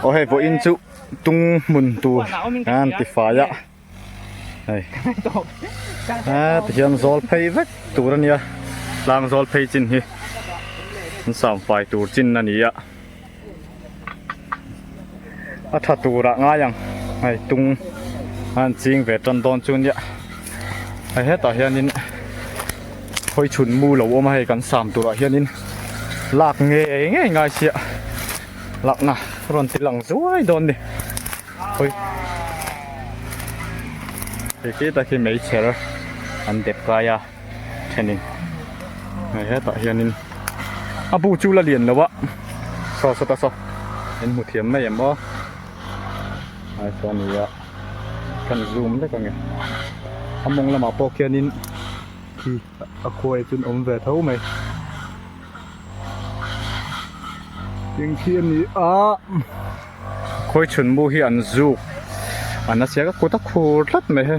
Aw hei pawh in chu tung hmun tur an ti fai a hei a ti hian zawl phei vek tur a nia tlang zawl phei chin hi an sam fai tur chin a ni a a tha tur ah ngai ang hei tung an ching ve tan dawn chu nia hei hetah hian in-- hawi chhun mu lo awm a hei kan sam turah hianin lak ngei ngei ngai sia lakna rawn ti lang zuai dawn ni hawi khi ta khi mei chher an dep kai a thenin hei hetah hianin a bu chu la lian lo a saw saw ta saw in hmu thiam mai em aw ai saw nia kan zoom vek a ni a mawng lamah pawh khianin khi a khuai chu an awm ve tho mai eng khi a ni a khawi chhunmu hi an zuk a na chiah ka kut a khur tlat mai he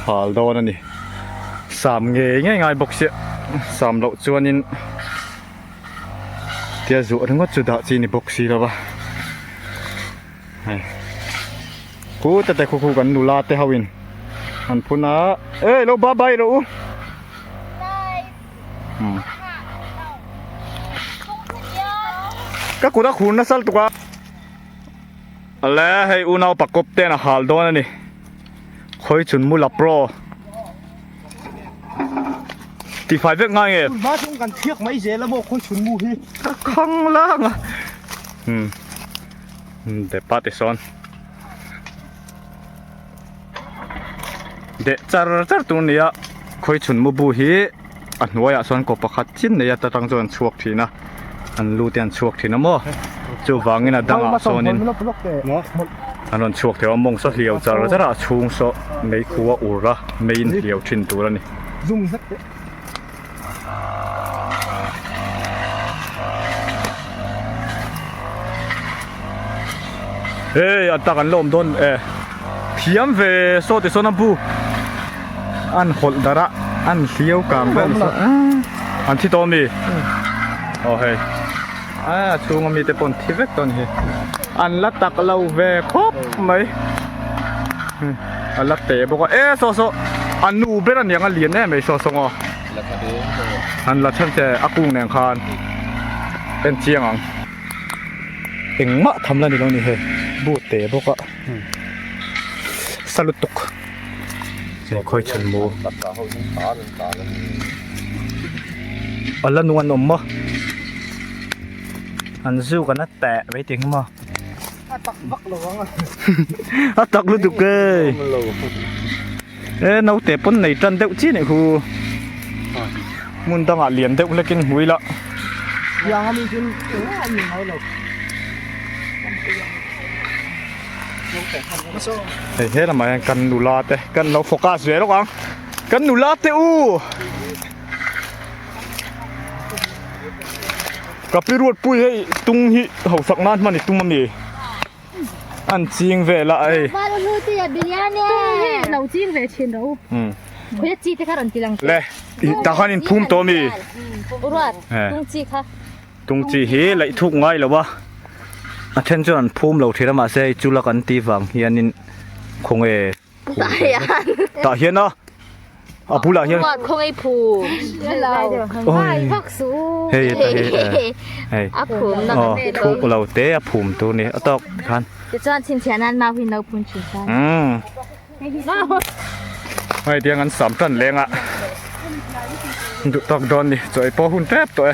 hal dawn a ni sam ngei ngei ngai bawk sia sam loh chuanin. tia zawh ringawt chu dah chi ni bawk si lova hei pute te khukhu kan nula te hoin an phun a ei lo ba bai rawh u hmm. ka kura khur na sal tuka ala hei unau pakop ten a hal dawn ani khawi chhun mula pro tifai vek ngai e ma chung kan thiak mai zel amo khawi chhun mu hi khang lang a hmm de pa te son de char char tur nia khawi chhun mu bu hi a hnuaiah sawn kaw pakhat chin neia ta tang chuan an chhuak thin a an lu te an chhuak thin a maw chuvangin a dang ah sawnin an rawn chhuak theih a mawng saw hliau char zar a a chhung saw mei khu a ur a meiin hliau thin tur a ni. Thiam ve saw ti sawn a bu an hawlh dar a an hliau kang ber ni sawn ah an thi tawh a mi aw hei a chhung a mi te pawn thi vek tawh a ni hi an la tak lo ve khawp mai a la teh bawk a e saw saw a nu ber a niang a lian em mai saw saw ngaw an la chhan che a kung nen khan en chiang ang engmah tham la ni lo a ni hei bu teh bawk a. sa lutuk he khawi chhan mu a la nu an awm maw an zu kan a teh mai tih engemaw a tak lutuk e E naute pawn nei tan deuh chi nih hu. Mun dang ah lian deuh hlekin hmui la. Yang ami tin an ni ngai lo. Hei he lamah hian kan nula te kan lo focus ve lawk ang kan nula te u kapi ruat pui hei tung hi hausak nan hmani tum ami An ching ve la ai. Ba lo lu ti a bilian e. Hi lo ching ve chin ro. Um. Khoya chi te kha ran tilang. Le. Ta khan in phum to mi. Uruat. Tung chi kha. Tung chi hi lei thuk ngai lo ba. A then chu an phum lo thira ma se chula kan ti vang hian in khong e. Tah hian. Tah hian a. A bulah hian. Khawngei khawngei phu. Hei vak su. Hei ta hi. Hei. A phum na kan ti thuk lo te a phum tur ni a tawk ti khan. Ti chuan chhin chhiah nan mau hi no phun thin ta. Umm. Hei tiang an sam tan leng a. Duh tak dawn ni. Chaw ei pawh a hun tep tawh e.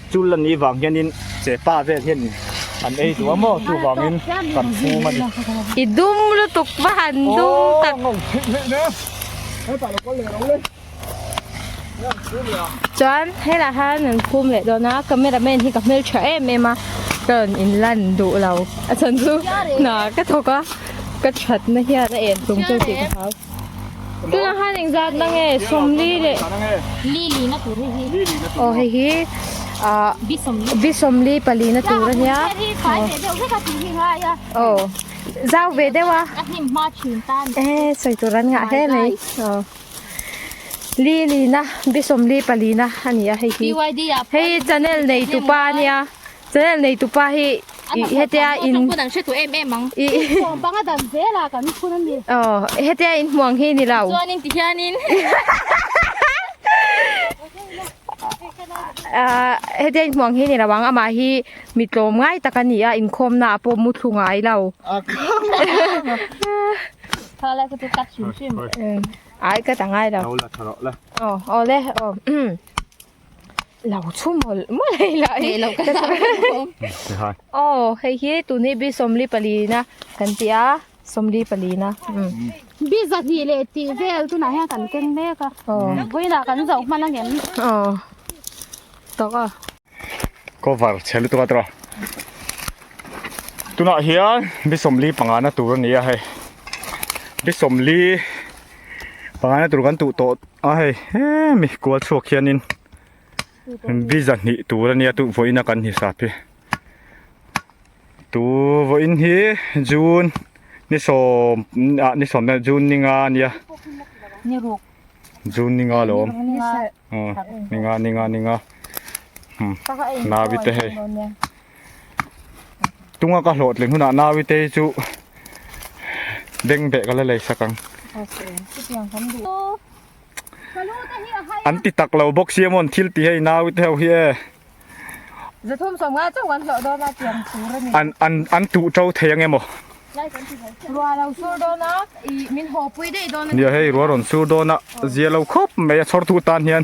Chu la ni vang hianin che pa vel hian in an ei duh a maw chuvangin kan fum a ni. I dum lutuk va han dum tak. Aww ngawm philh philh nia. Hetah lo kal leh lo le. Hetiang thu nia. Chuan helah hian an fum leh dawn a, camera man hi ka hmel tha em em a, ka rawn in lan duh lo. A chhan chu hna ka thawk a, ka thatna hian a en tlung teuh tih ka hau. Tuna han eng zat na nge som li le li li na tur hi hi oh hi hi a bisom li bisom li pali na tur a nia hi sai ve deuh vek a ti hi ngai a oh zau ve deuh a a hnim ma thin ta ni e sai tur an ngah he mai oh li li na bisom li pali na a nia hei hi hei channel nei tu pa nia Channel nei tupa hi hetia in kan hre tu em em ang i hmuang panga dan zel a kan phun ani oh hetia in hmuang hi ni lo chuan in ti hian in ah hetia in hmuang hi ni lo ang ama hi mi tlawm ngai tak ania in khawmna a pawh mu thlu ngai lo thala chu cut hrim hrim ai cut a ngai lo oh awle oh lo chhu mawlh mawlh a ila hi lo ka zah zawk ang aw hei hi tun hi bisawmli pali ina kan tih a sawmli pali ina bizahnih leh tih vel tunah hian kan keng mek a vawiinah kan zoh hman ang em aw tak a cover chhe lutuk a tura tunah hian bisawmli panga na tur a ni a hei bisawmli pangaina tur kan tuh tawh a hei he mi kual chhuak hianin biza hnih tur a nia tuvawiin a kan hni sap hi tuvawiin hi june ni sawm ah ni sawm hian june ni nga a nia june ni nga lo awm ni nga ni nga ni nga hnam naute hei. tunga ka hlawh tling hunah nawi te hi chu bengbeh ka la lei sak ang an ti tak lo bawk si emaw an thil ti hei nawi te ho hi e zathum sawm nga chauh kan hlawh dawn a tiang tur a ni an an an tuh to thei ang emaw ruah lo sur dawn a i min haw pui daih dawn a ni a hei ruah rawn sur dawn a zia lo khawp mai a chhawrtu tan hian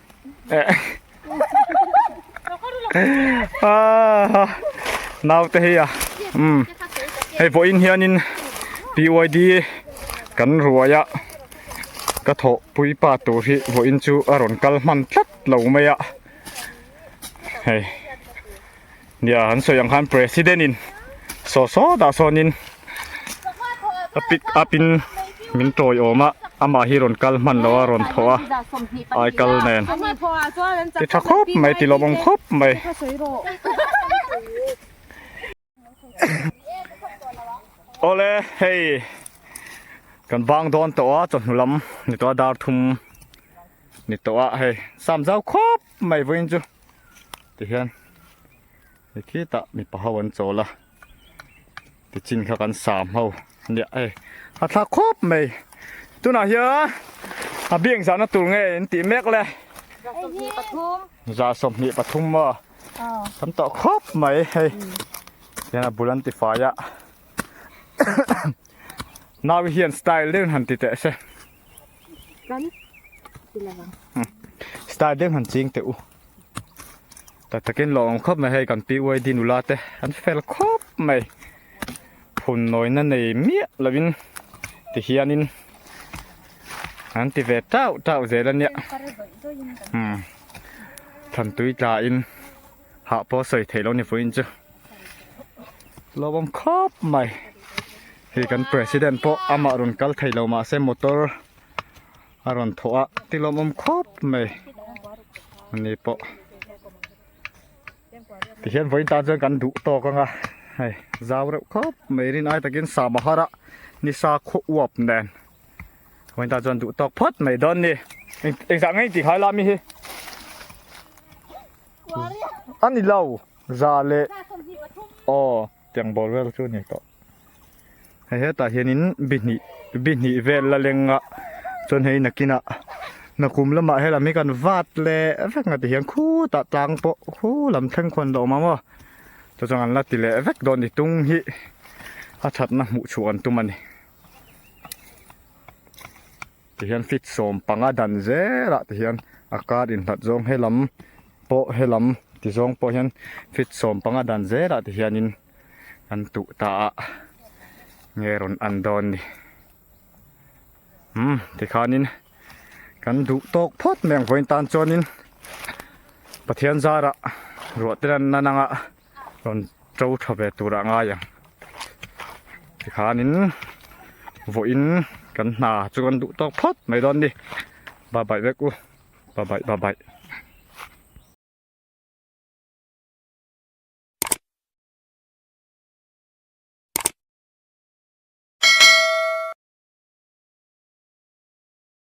naute hei a umm hei vawiin hianin BYD kan ruai a ka thawh pui pa tur hi vawiin chu a rawn kal hman tlat lo mai a hei. Nia an sawi ang khan president in saw saw dah sawnin a pick up in min tawi awm a amah hi rawn kal hman loh a rawn thaw a ai kal nen ti tha khawp mai ti lawmawm khawp mai awle hei kan bang dawn tawh a chawhnu lam ni tawh a dar thum ni tawh a hei sam zau khawp Mai vawiin chu tihian he khitah mipa ho an chawl a tichin kha kan sam ho nia e a thlak khawp mai tunah hian a biak zahna tur nge in tih mek le za sawmhnih pathum maw kan tawh khawp mai hei hian a bul an ti fai a nau hian style deuhin han ti teh se. kan ti lo ang style deuh han ching teh u ta takin lo awm khawp mai hei kan pi uai di nula te an fel khawp mai hun nawina nei miah lovin ti hianin an ti ve tau tau zel ania thlan tui tla in hah pawh sawi theih lo ni fuiin chu hlauhawm khawp mai hei kan president pawh amah rawn kal thei lo mahse motor a rawn thawh a ti hlauhawm khawp mai a ni pawh tihian vawiin tan chuan kan duh tawk anga hei zau reuh khawp mai rin ai takin samahara ni sa khaw uap nen vawiin tan chuan duh tawk phawt mai dawn ni engzah ngei intih khaila mi hi Ani lo, za leh aw tiang bawl vel chu ani tawh. Hei hetah hianin bihnih bihnih vel la lenga chuan hei nakina na kum lamah hian lam hi kan vat leh vek ngati hian khutah tlang pawh khu lam thleng khawn dawh awm ang aw. Chu chuan an la ti leh vek dawn a ni. Tung hi a thatna hmuh chhuah an tum a ni. Tihian fit sawm panga dan zela tihian a kar innghat zawng helam pawh helam tizawng pawh hian fit sawm panga dan zela tihianin kan tuh ta a nge rawn an dawn ni umm tikhanin kan duh tawk phawt mai ang vawiin tan chuanin Pathian zara ruah te ranna nanga. Rawn to tha ve tur a ngai ang. Tikhanin vawiin kan hna chu kan duh tawk phawt mai dawn ni. Bye bye vek u. Bye bye bye bye.